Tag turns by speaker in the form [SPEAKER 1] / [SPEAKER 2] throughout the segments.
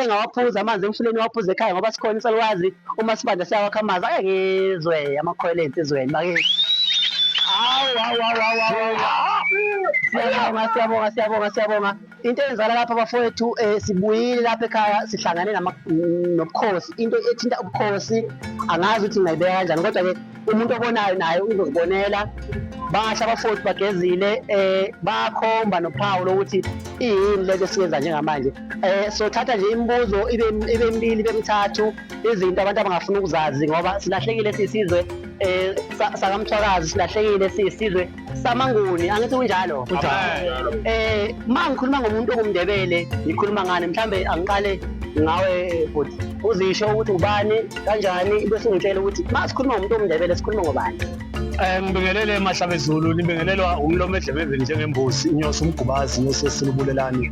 [SPEAKER 1] engawaphuza amanzi emfuleni waphuza ekhaya ngoba sikhona isalukwazi uma sibanda siyawakha amanzi ake ngizwe amakhwela ensizweni bakithi siyabonga siyabonga siyabonga siyabonga into eyenzala lapha bafowethu um sibuyile lapha ekhaya sihlangane nobukhosi into ethinta ubukhosi angazi ukuthi ngingayibeka kanjani kodwa-ke umuntu obonayo naye uzozibonela basha abafoti bagezile um bakhomba nophawu lokuthi iyini lento esiyenza njengamanje um sothatha nje imibuzo ibe mibili ibe mithathu izinto abantu abangafuna ukuzazi ngoba silahlekile siyisizwe um sakamthwakazi silahlekile siyisizwe samanguni angithi kunjalo eh uma ngikhuluma ngomuntu ongumndebele ngikhuluma ngani mhlambe angiqale ngawe futhi uzisho ukuthi ubani kanjani bese ungitshela ukuthi uma sikhuluma ngomuntu omndebele sikhuluma ngobani Eh ngibingelele
[SPEAKER 2] emahlaba ezulu nibingelelwa umlomo edlemeveni njengembusi inyosi umgubazi inyosi esilubulelani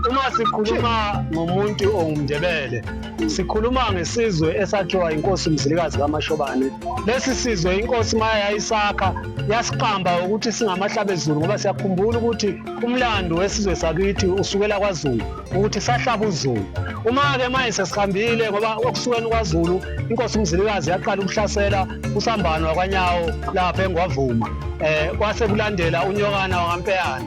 [SPEAKER 2] uma sikhuluma ngomuntu ongumndebele Sikhuluma ngesizwe esakhiwa inkosi Mzilikazi kaMashobane. Lesi sizwe inkosi maya yayisakha yasiqamba ukuthi singamahlabezulu ngoba siyakhumbula ukuthi umlando wesizwe sakithi usukela kwaZulu ukuthi sahlaba uZulu. Uma-ke manje sesihambile ngoba okusukeni kwaZulu inkosi uMzilikazi yaqala ukuhlasela usambano wakwanyawo lapha engwavuma um kwase kulandela unyokana wakampeyana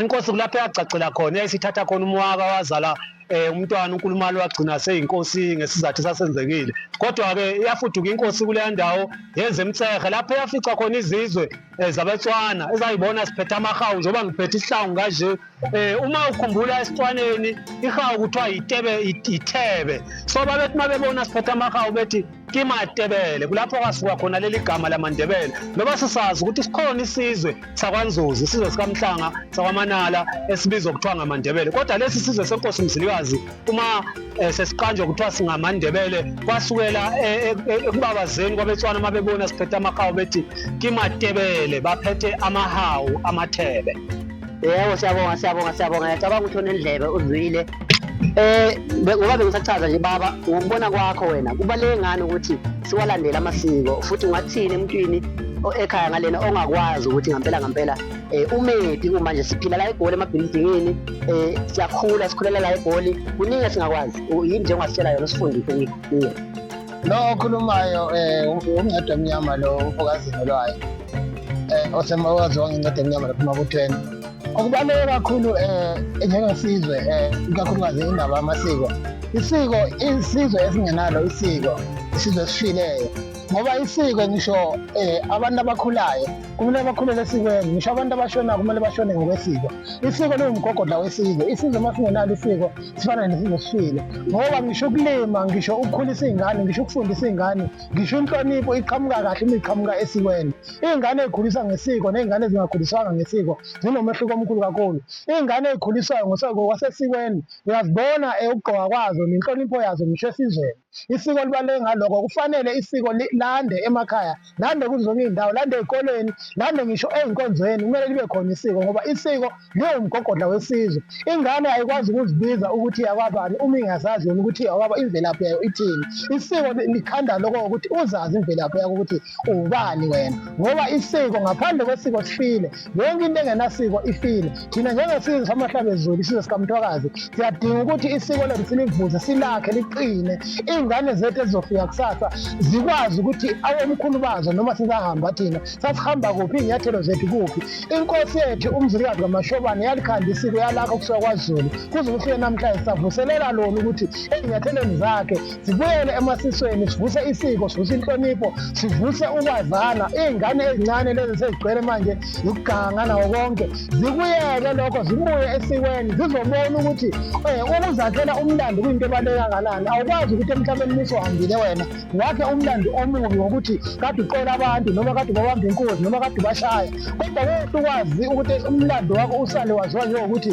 [SPEAKER 2] inkosi kulapho yagcagcela khona yayisithatha khona umwaka wazala eh umntwana uNkulumali wagcina seyinkosi ngesizathu sasenzekile kodwa ke yafuduka inkosi kule ndawo yenze emtsehe lapho yafica khona izizwe eh, zabeTswana ezayibona siphethe amahawu njengoba ngiphethe isihlangu kanje eh uma ukhumbula esitwaneni ihawu kuthiwa yitebe yithebe so babethi mabebona siphethe amahawu bethi kimatebele kulapho kwasuka khona leli gama lamandebele noba sisazi ukuthi sikhona isizwe sakwanzuzi isizwe sikamhlanga sakwamanala esibizwa kuthiwa ngamandebele kodwa lesi sizwe senkosi mzilikazi uma eh, sesiqanjwa kuthiwa singamandebele kwasukela eh, eh, eh, ekubabazeni kwabetswana uma bebona siphethe amahawu bethi kimatebele baphethe amahawu
[SPEAKER 1] amathebe
[SPEAKER 2] Yebo
[SPEAKER 1] siyabonga siyabonga siyabonga ngiyacabanga ukuthi onendlebe
[SPEAKER 2] uzwile
[SPEAKER 1] eh ngoba bengisachaza nje baba ngokubona kwakho wena kubaleke ngani ukuthi siwalandele amasiko futhi ungathini emntwini ekhaya ngalena ongakwazi ukuthi ngampela ngampela eh umedi uma nje siphila la egoli emabhilidingini eh siyakhula sikhulela la egoli kuningi esingakwazi yini nje ongasitshela yona sifundise kuye Lo
[SPEAKER 3] okhulumayo um umncede omnyama lo umfokazini olwayo um osemakwazi wangencede emnyama lapho emabuthweni okubaluleke kakhulu um njengesizwe um ikakhulukazi indaba yamasiko isiko isizwe esingenalo isiko isizwe esifileyo ngoba isiko ngisho um abantu abakhulayo kumele bakhulele esikweni ngisho abantu abashonayo kumele bashone ngokwesiko isiko liwumgogodla wesizwe isizwe uma singenalo isiko sifana nesizwe sifile ngoba ngisho ukulima ngisho ukukhulisa iy'ngane ngisho ukufundisa iy'ngane ngisho inhlonipho iqhamuka kahle uma iqhamuka esikweni iy'ngane ey'khuliswa ngesiko ney'ngane ezingakhuliswanga ngesiko zinomehluko omkhulu kakhulu iy'ngane ey'khuliswayo ngokwasesikweni uyazibona ukugqoka kwazo nenhlonipho yazo ngisho esizweni isiko libaluleke ngaloko kufanele isiko lande emakhaya lande kuzo zonke iy'ndawo lande ey'koleni lande ngisho ey'nkonzweni kumele libe khona isiko ngoba isiko liwumgogodla wesizwe ingane ayikwazi ukuzibiza ukuthi yakwabani uma ingazazi yona ukuthi yakwaba imvelaphi yayo ithini isiko likhanda loko ukuthi uzazi imvelaphi yakho ukuthi uwubani wena ngoba isiko ngaphandle kwesiko sifile yonke into engenasiko ifile thina njengesizwe samahlabezulu isizwe sikamthwakazi siyadinga ukuthi isiko lethu silivuze silakhe liqine iy'ngane zethu ezizofika kusasa zikwazi ukuthi awomkhulu bazo noma sizahamba thina sasihamba kuphi iy'nyathelo zethu kuphi inkosi yethu umzilikazi kamashobane yalikhanda isiko yalakho kusuka kwazulu kuze kufike namhlanje savuselela lona ukuthi ezinyathelweni zakhe sibuyele emasisweni sivuse isiko sivuse inhlonipho sivuse ukwazana iy'ngane ezincane lezi sezigcwele manje ziganga nawo konke zikuyeke lokho zibuye esikweni zizobona ukuthi um ukuzakhela umlando kuyinto ebaluleke kangakanani awukwazi ukuthi emhlabeni musuhambile wena wakhe umlando omubi ngokuthi kade uqola abantu noma kade ubabamba inkunzi noma kade ubashaya kodwa kuhle ukwazi ukuthi umlando wakho usale waziwa njengokuthi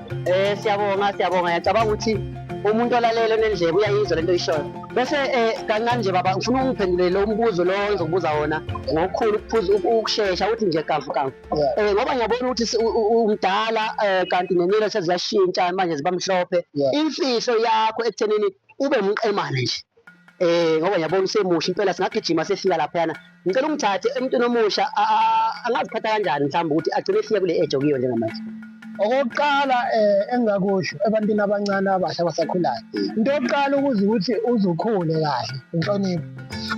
[SPEAKER 3] Eh
[SPEAKER 1] siyabonga siyabonga yacabanga ukuthi umuntu olalele onendlebe uyayizwa lento oyishoyo. Bese eh kancane nje baba ngifuna ungiphendulele lo mbuzo lo engizokubuza wona ngokukhulu ukuphuza uku- ukushesha uthi nje kafu kafu. Yeah. Eh ngoba ngiyabona ukuthi si- u- u- umdala eh kanti nenwele seziyashintsha manje ziba mhlophe. Yeah. Imfihlo yakho ekuthenini ube umqemane nje. Eh ngoba ngiyabona usemusha impela singagijima sefika laphayana. Ngicela ungithathe emntwini omusha angaziphatha kanjani mhlawumbe ukuthi agcine efika kule age okuyo njengamanje. Okokuqala
[SPEAKER 3] eh engingakusho ebantwini abancane abasha abasakhulayo. Into yokuqala ukuze ukuthi uzukhule kahle inhlonipho.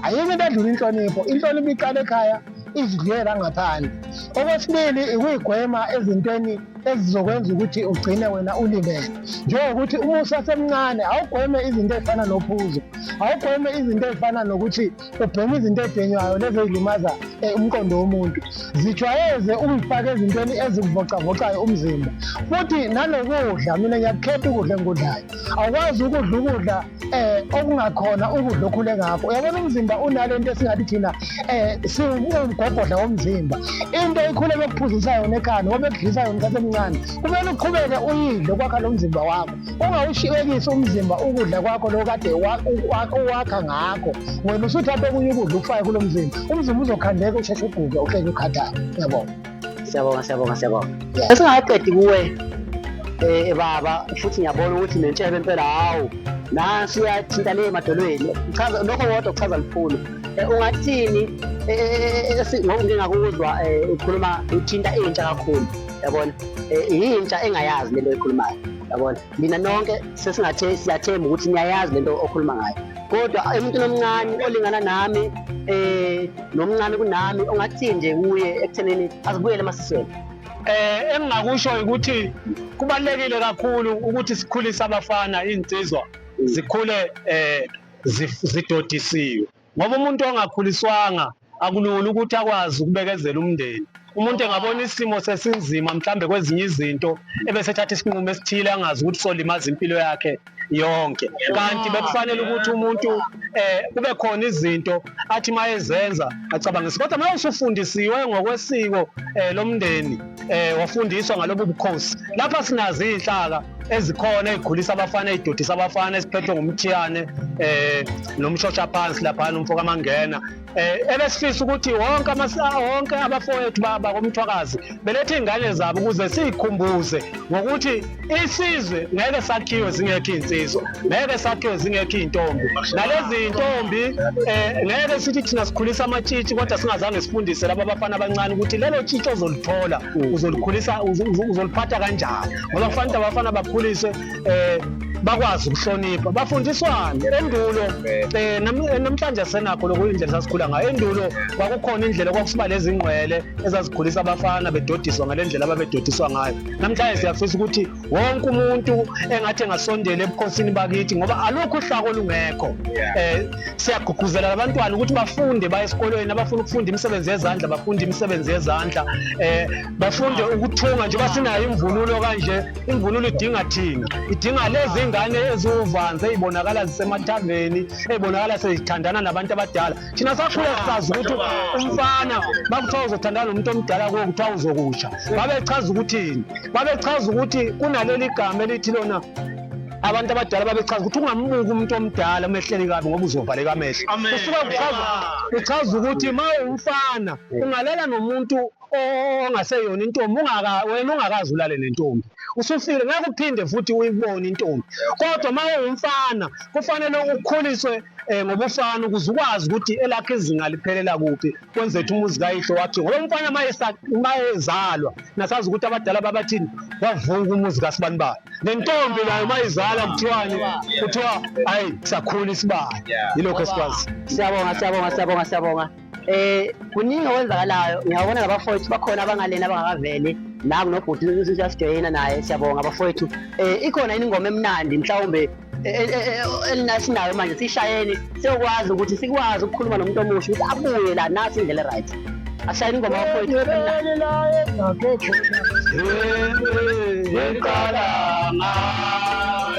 [SPEAKER 3] Ayikho into edlula inhlonipho. Inhlonipho iqala ekhaya izidlela ngaphandle okwesibili ikuyigwema ezintweni ezizokwenza ukuthi ugcine wena ulibele njengokuthi uma usasemncane awugweme izinto ezifana nophuzo awugweme izinto ezifana nokuthi ubheme izinto ebhenywayo lezo ey'limaza eh, umqondo womuntu zijwayeze ukuyifaka ezintweni ezikuvocavocayo umzimba futhi nanokudla mina ngiyakukhetha ukudla engikudlayo awukwazi ukudla ukudla eh okungakhona ukudla okhule ngakho uyabona umzimba unale nto esingathi thina eh siwumgogodla womzimba into ikhule bekuphuzisa yona ekhanda ngoba bekudlisa yona isikhathi emncane kumele uqhubeke uyidle ukwakha lo mzimba wakho ungawushiyekisi umzimba ukudla kwakho lo kade uwakha ngakho wena usuthatha okunye ukudla ukufake kulo mzimba umzimba uzokhandeka usheshe uguke uhleke ukhathaka yabona siyabonga siyabonga
[SPEAKER 1] siyabonga esingaqedi kuwe eh, eh baba futhi ngiyabona ukuthi nentshebe impela hawu nansi uyathinta le emadolweni chaza lokho kodwa kuchaza lukhulu eh, ungathini eh, ngingakuzwa ukhuluma uthinta intsha kakhulu yabona yintsha engayazi lento ekhulumayo yabona mina nonke sesingathe siyathemba ukuthi niyayazi lento okhuluma ngayo kodwa emuntwini omncane olingana nami eh nomncane kunami ongathini nje kuye ekuthenini azibuyele emasisweni eh engingakusho
[SPEAKER 2] ukuthi kubalekile kakhulu ukuthi sikhulise abafana insizwa zikhule eh zidodisiwe ngoba umuntu ongakhuliswanga akulula ukuthi akwazi ukubekezela umndeni umuntu engabona isimo sesinzima mhlambe kwezinye izinto ebesethatha isinqumo esithile angazi ukuthi solimaza impilo yakhe yonke kanti bekufanele ukuthi umuntu eh kube khona izinto athi mayezenza acabangise kodwa manje usufundisiwe ngokwesiko eh, lomndeni eh wafundiswa ngalobu bukhosi lapha sinazi inhlaka ezikhona ezikhulisa abafana ezidodisa abafana esiphethwe ngumthiyane eh nomshosha phansi lapha nomfo kamangena eh ebesifisa ukuthi wonke amasa wonke abafowethu bakomthwakazi belethe ingane zabo ukuze sikhumbuze ngokuthi isizwe ngeke sakhiwe zingekho iy'nsizwa ngeke sakhiwe zingekho iy'ntombi nalezi y'ntombi um eh, ngeke sithi thina sikhulisa amatshitshi kodwa singazange sifundise laba abafana abancane ukuthi lelo tshitshi ozolithola uzolikhulisa uzoliphatha kanjani ngoba kufanele abafana bakhuliswe um bakwazi ukuhlonipha bafundiswane endulo um namhlanje senakho lokhu indlela sasikhula ngayo endulo kwakukhona indlela kwakusiba lezingqwele ezazikhulisa abafana bedodiswa ngale ndlela ababedodiswa ngayo namhlanje siyafisa ukuthi wonke umuntu engathi engasondela ebukhosini bakithi ngoba alukho uhlaka olungekho eh siyagqugquzela abantwana ukuthi bafunde baye esikolweni abafuna ukufunda imisebenzi yezandla bafunde imisebenzi yezandla eh bafunde ukuthunga njengoba sinayo imvunulo kanje imvunulo idinga thina idinga lezi ngane eziwuvanze ezibonakala zisemathaveni ezibonakala sezithandana nabantu abadala thina sakhula sisazi ukuthi umfana bakuthiwa uzothandana nomuntu omdala kuwo kuthiwa uzokusha babechaza ukuthini babechaza ukuthi kunaleli gama elithi lona abantu abadala babechaza ukuthi ungambuki umuntu omdala umehleli kabi ngoba uzovaleka amehlo kusuke kuchaza ukuthi ma umfana ungalala nomuntu ongaseyona intombi ungaka wena ungakazi ulale nentombi usufile ngeke uphinde futhi uyibone intombi kodwa uma ungumfana kufanele ukhuliswe um eh, ngobufana ukuze ukwazi ukuthi elakhe izinga liphelela kuphi kwenze ukuthi umuzi kayihlo wakhe ngoba umfana uma ezalwa nasazi ukuthi abadala babathini wavuka umuzi kasibani bani nentombi nayo uma izala kuthiwani kuthiwa hayi sakhula isibani yilokho esikwazi siyabonga siyabonga siyabonga
[SPEAKER 1] siyabonga Eh kuningi okwenzakalayo ngiyabona labafowethu bakhona abangalena abangakaveli la kunobhuti sesiyajoyina naye siyabonga abafowethu eh ikhona ingoma emnandi mhlawumbe e, e, e, elinasinayo manje sishayeni siyokwazi ukuthi sikwazi ukukhuluma nomuntu omusha ukuthi abuye la nasi indlela eright ashayeni ingoma abafowethu ngiqala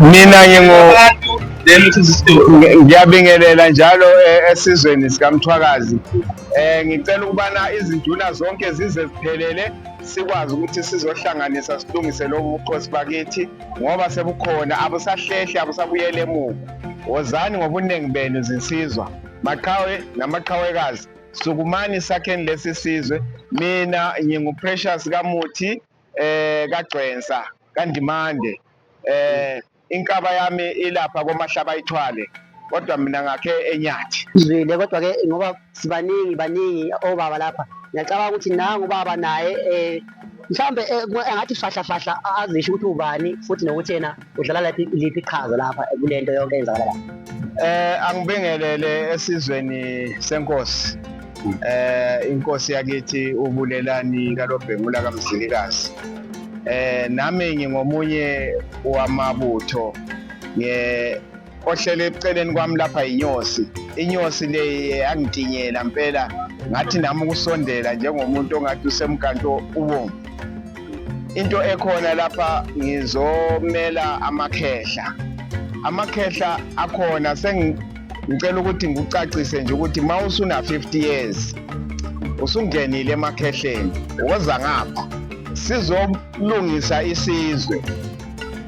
[SPEAKER 4] mina ngingu ngiyabingelela njalo eh, esizweni sikamthwakazi um ngicela ukubana izinduna zonke zize ziphelele sikwazi ukuthi sizohlanganisa silungise lobu bukhosi bakithi ngoba sebukhona abusahlehli abusabuyela emuva wozani ngobuningi benu zinsizwa maqhawe namaqhawekazi sukumani sakheni lesi sizwe mina nginguprecious kamuthi eh kagcwensa kandimande eh inkaba yami ilapha komahlaba ithwale kodwa mina ngakhe enyathi zwile kodwa ke
[SPEAKER 1] ngoba sibaningi baningi obaba lapha ngiyacabanga ukuthi nangu ubaba naye eh mhlambe eh, engathi fahla fahla azisho ukuthi ubani futhi nokuthi yena udlala laphi liphi iqhaza lapha kulento yonke eyenzakala lapha eh angibingelele
[SPEAKER 4] esizweni senkosi eh inkosi yakithi ubulelani kalobhengula kamzilikazi eh nami ngingomunye wamabutho nge ohlele eceleni kwami lapha yinyosi inyosi le yangitinyela mpela ngathi nami ukusondela njengomuntu ongathi usemganto ubomvu into ekhona lapha ngizomela amakhehla amakhehla akhona sengicela ukuthi ngikucacise nje ukuthi uma usuna-50 years usungenile emakhehleni woza ngapha sizolungisa isizwe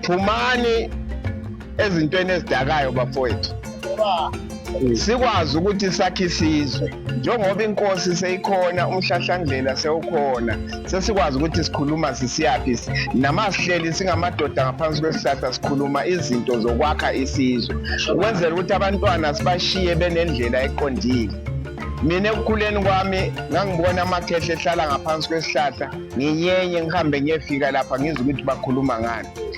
[SPEAKER 4] phumani ezintweni ezidakayo bafowethu sikwazi ukuthi sakhe isizwe njengoba inkosi seyikhona umhlahlandlela sewukhona sesikwazi ukuthi sikhuluma sisiyaphi namasihleli singamadoda ngaphansi kwesihlahla sikhuluma izinto zokwakha isizwe ukwenzela ukuthi abantwana sibashiye benendlela eqondile mina ekukhuleni kwami ngangibona amakhehle ehlala ngaphansi kwesihlahla nginyenye ngihambe ngiyefika lapha ngizwe ukuthi bakhuluma ngani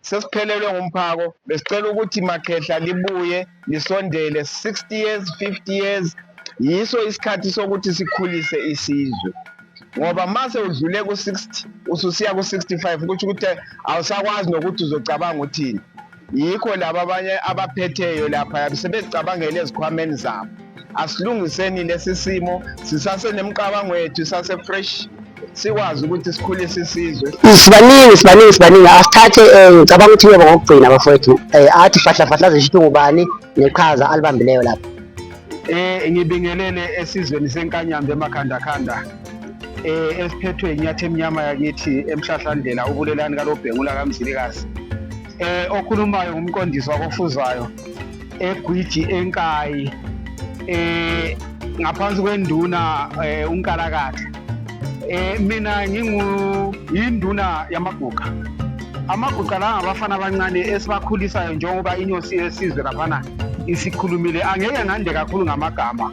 [SPEAKER 4] Sesiphelelwe ngumphako besicela ukuthi makhehla libuye lisondele 60 years 50 years yiso isikhathi sokuthi sikhulise isizwe ngoba mase udlule ku-60 ususiya ku-65 ukuthi ukuthi awusakwazi nokuthi uzocabanga uthini yikho laba abanye abaphetheyo lapha sebezicabangela ezikhwameni zabo asilungiseni lesi simo sisasenemicabango yethu sase-fresh sikwazi ukuthi sikhulise isizwe sibaningi sibaningi
[SPEAKER 1] sibaningi asithathe um ngicabanga ukuthi yebo ngokugcina bafowethu um athi fahlafahla zisho ukuthi ngubani neqhaza alibambileyo lapho um
[SPEAKER 2] ngibingelele esizweni senkanyambe emakhandakhanda um esiphethwe inyathi emnyama yakithi emhlahlandlela ubulelani kalobhengula kamzilikazi eh okhulumayo ngumqondisi wakofuzayo egwiji enkayi eh ngaphansi kwenduna eh, unkalakatha eh mina ngingu yinduna yamaguqa amaguqa la ngabafana abancane esibakhulisayo njengoba inyosi yesizwe laphana isikhulumile angeke ngande kakhulu ngamagama